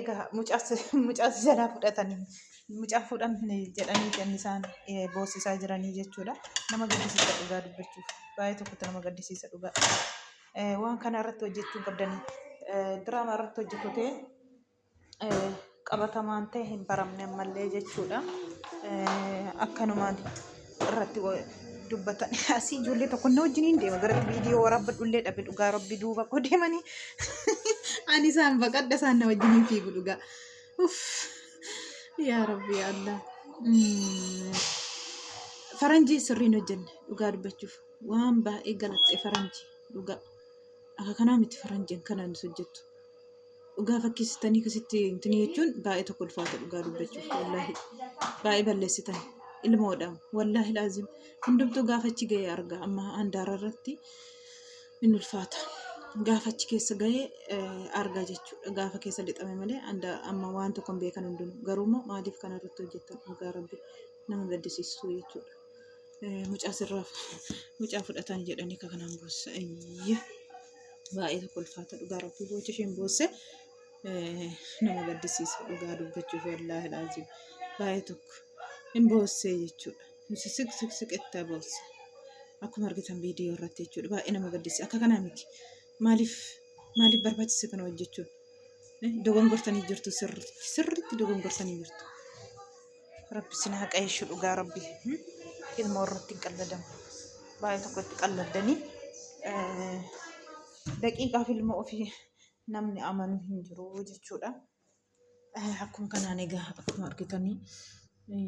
Egaa mucaa si jalaa fudhatanii mucaa fuudhamne jedhanii kan isaan boosisaa jiranii jechuudha. Nama gaddisiisa dhugaa dubbachuuf baay'ee tokkotti nama gaddisiisa dhugaa. Waan kana irratti hojjechuu qabdanii diraamaa irratti hojjetutee qabatamaan ta'e hin baramne ammallee jechuudha. Akkanumaan. irratti dubbatan asii ijoollee tokko inni wajjin hin deema gara viidiyoo waraabbadhu illee dhabe dhugaa rabbi duuba koo deemanii ani isaan baqadha isaan na wajjin hin fiigu dhugaa yaa rabbi yaa allah faranjii sirriin hojjenne dhugaa dubbachuuf waan baay'ee galatte faranjii dhugaa akka kanaa miti faranjiin kanaan hojjettu dhugaa fakkeessitanii akkasitti intini jechuun baay'ee tokko ulfaata dhugaa dubbachuuf wallaahi baay'ee balleessitan ilmoodha wallaahi laazim hundumtuu gaafa achi ga'e arga amma handaara irratti in ulfaata gaafa achi keessa ga'e arga jechuudha gaafa keessa lixame malee handa- amma waan tokko hin beekan hundinuu garuu immoo maaliif kana irratti hojjetan dhugaa rabbi nama gaddisiisu jechuudha Eh, mucaa sirraa mucaa fudhatan jedhanii ka kanaan boossa ayya baay'ee tokko ulfaata dhugaa rabbii boochi isheen boosse nama gaddisiisa dhugaa dubbachuuf wallaahi laazim baay'ee tokko hin boossee jechuudha. Nuti siq siq siqettaa boosse akkuma argitan viidiyoo irratti jechuudha baay'ee nama gaddisiisa akka kanaa miti maaliif maaliif barbaachise kana hojjechuun dogongortanii jirtu sirriitti sirriitti dogongortanii jirtu. Rabbi sin haa qayeeshu dhugaa rabbi hmm? ilmoo irratti hin qalladamu baay'ee tokko itti qalladdanii eh, daqiiqaaf ilmoo ofii namni amanu hin jiru jechuudha. Eh, Akkuma kanaan egaa akkuma argitanii eh,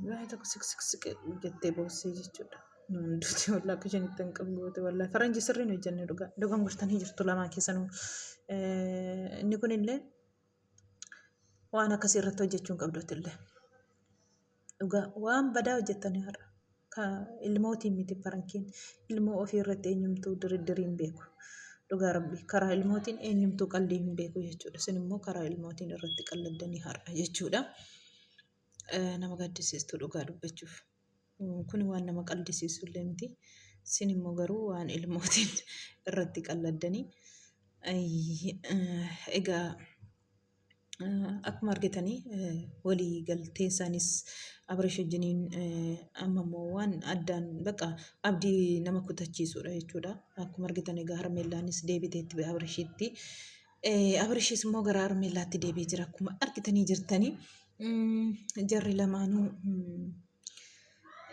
baay'ee tokko siqsiqsiqe jettee boossee jechuudha. Nuun duuti wallah akka isheen itti hin qabu goote wallah faranji sirriin hojjenne dhugaa dogongortanii jirtu lamaan keessanuu. Eh, Inni kunillee Waan akkasii irratti hojjechuu hin qabdu atillee. Dhugaa waan badaa hojjettanii har'a. Ka ilmootiin miti farankiin. Ilmoo ofii irratti eenyumtuu diriddirii hin beeku. Dhugaa rabbi karaa ilmootiin eenyumtuu qallii hin beeku jechuudha. Isin immoo karaa ilmootiin irratti qalladdanii har'a jechuudha. Eh, Nama gaddisiistu dhugaa dubbachuuf. Kun waan nama qaldisiisu illee miti. Sin immoo garuu waan ilmootiin irratti qalladdanii. Egaa akkuma argitanii walii galtee isaanis Abirish wajjiniin amma immoo waan addaan baqa abdii nama kutachiisudha jechuudha. Akkuma argitan egaa harmeellaanis deebiteetti Abirishitti. Eh, Abrishis immoo gara Armeellaatti deebi'ee jira akkuma argitanii jirtanii. Mm, Jarri lamaanuu mm,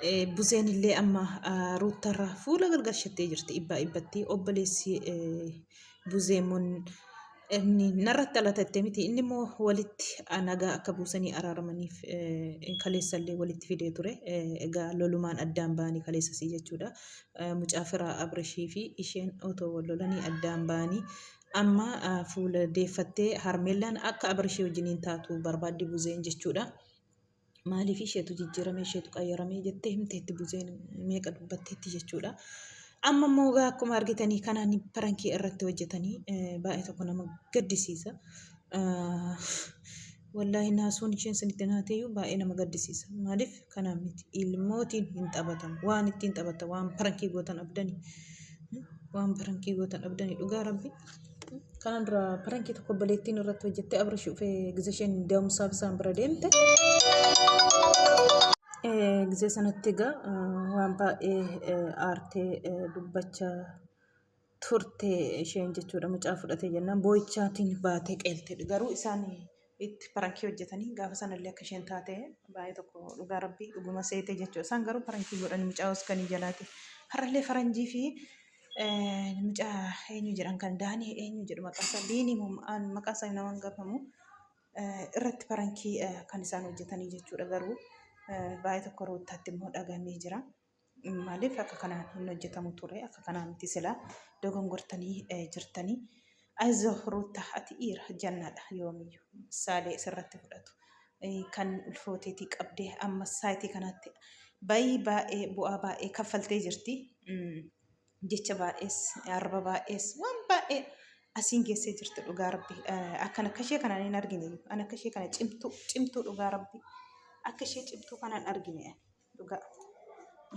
eh, Buzeen illee amma ah, Ruuttarraa fuula gargarshattee jirti ibbaa ibbatti obboleessi eh, Buzee immoo inni narratti alatatte miti inni immoo walitti ah, nagaa akka buusanii araaramaniif eh, kaleessa illee walitti fidee ture Eh, egaa lolumaan addaan ba'anii kaleessasii jechuudha Eh, mucaa firaa Abrishii fi isheen otoo wal lolanii addaan ba'anii Amma fuula deeffattee Harmeellaan akka Abarishee wajjiniin taatu barbaaddi Buzeen jechuudha. Maaliif isheetu jijjiirame isheetu qayyarame jettee himteetti Buzeen meeqa dubbatteetti jechuudha. Amma immoo egaa akkuma argitanii kanaan parankii irratti hojjetanii baay'ee tokko nama gaddisiisa. Wallaahi naasuun isheen sinitti naateeyyuu baay'ee nama gaddisiisa. Maaliif kanaan miti ilmootiin hin taphatan waan ittiin taphatan waan parankii gootan abdani waan parankii gootan abdani dhugaa rabbi. Kanaan dura parankii tokko obboleettiin irratti hojjettee abrish dhufee gizee isheen da'umsaaf isaan bira deemte. Gizee sanatti egaa waan baay'ee aartee dubbachaa turte isheen jechuudha mucaa fudhate jennaan boo'ichaatiin baatee qeeltedha. Garuu isaan itti parankii hojjetanii gaafa sanallee akka isheen taate baay'ee tokko dhugaa rabbii dhuguma seete jechuudha. Isaan garuu parankii godhan mucaa Oskanii jalaati. Har'allee faranjii fi mucaa eenyu jedhan kan daanii eenyu jedhu maqaasaa diinii maqaasaa nama hin gafamu irratti parankii kan isaan hojjetanii jechuudha. Garuu baay'ee tokko ruuttaatti immoo dhagamee jira. Maaliif akka kanaan hin hojjetamu ture akka kanaa miti silaa dogongortanii eh, jirtanii ayizoo ruutta ati dhiira jannaadha yoomiyyuu saalee sirratti fudhatu Eh, kan ulfooteetii qabdee amma saayitii kanaatti baay'ee baay'ee bu'aa baay'ee kaffaltee jirti Mm, jecha baay'ees arba baay'ees waan baay'ee asiin geessee jirti dhugaa rabbi Eh, akkan akka ishee kanaan hin argine an akka ishee kana cimtuu cimtuu dhugaa rabbi akka ishee cimtuu kanaan argine ani. dhugaa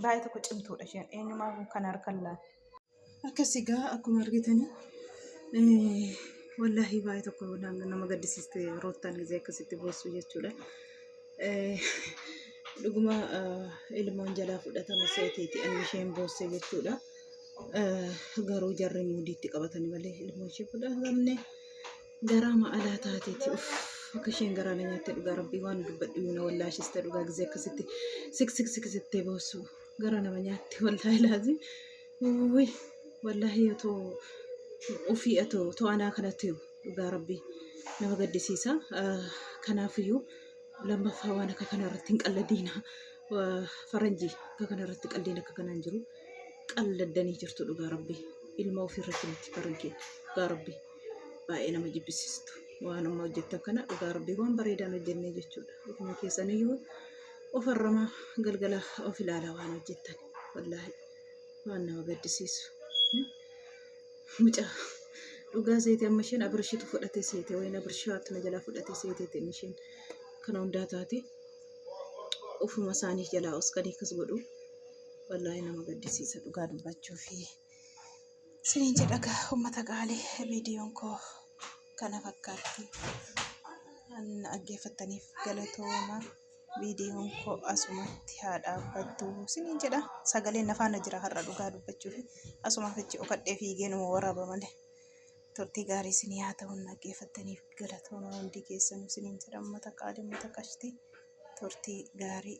baay'ee tokko cimtuudha isheen eenyumaa kan harkan laata. Akkas egaa akkuma argitanii wallaahi baay'ee tokko nama gaddisiiste roottaan gisee akkasitti boossu jechuudha. Dhuguma ilmoon jalaa fudhatame seeteeti anni isheen boosse jechuudha. Garuu jarri muudiitti qabatanii malee ilmoo ishee fudhatamne. Garaa ma alaa taateeti uff akka isheen garaa na nyaatte dhugaa rabbii waan dubbadhu na wallaashiste dhugaa gisee akkasitti sik sik sik sittee boosu garaa nama nyaatte wallaahi laazim uwwi wallaahi yoo too ofii atoo too anaa kanatti dhugaa rabbii nama gaddisiisa Ah, kanaafiyyuu lammaffaa waan akka kana irratti hin qalladiina Ah, faranjii akka kana irratti qalliin akka kanaan jiru qalladdanii jirtu dhugaa rabbii ilma ofii irratti miti faranjii dhugaa rabbii. baay'ee nama jibbisiistu waan amma hojjettan kana dhugaa rabbii waan bareedaan hojjennee jechuudha ofuma keessaniyyuu of harrama galgala of ilaala waan hojjettan wallaahi waan nama gaddisiisu mucaa dhugaa seete amma isheen abirshitu fudhate seete wayin abirshaatu na jalaa fudhate seeteeti inni isheen kana hundaa taate ofuma isaanii jalaa osqanii akkas godhu wallaahi nama gaddisiisa dhugaa dubbachuu fi Sinin jedha gaa ummata qaali viidiyoon koo kana fakkaatti. An dhaggeeffattaniif galatooma. Viidiyoon koo asumatti haa dhaabbattu sinin jedha. Sagaleen na faana jira har'a dhugaa dubbachuuf. Asumaaf achi okadhee fiigee numa waraaba malee. Turtii gaarii isin yaa ta'u dhaggeeffattaniif galatooma hundi keessanuu sinin jedha ummata qaali ummata qashtii. Turtii gaarii.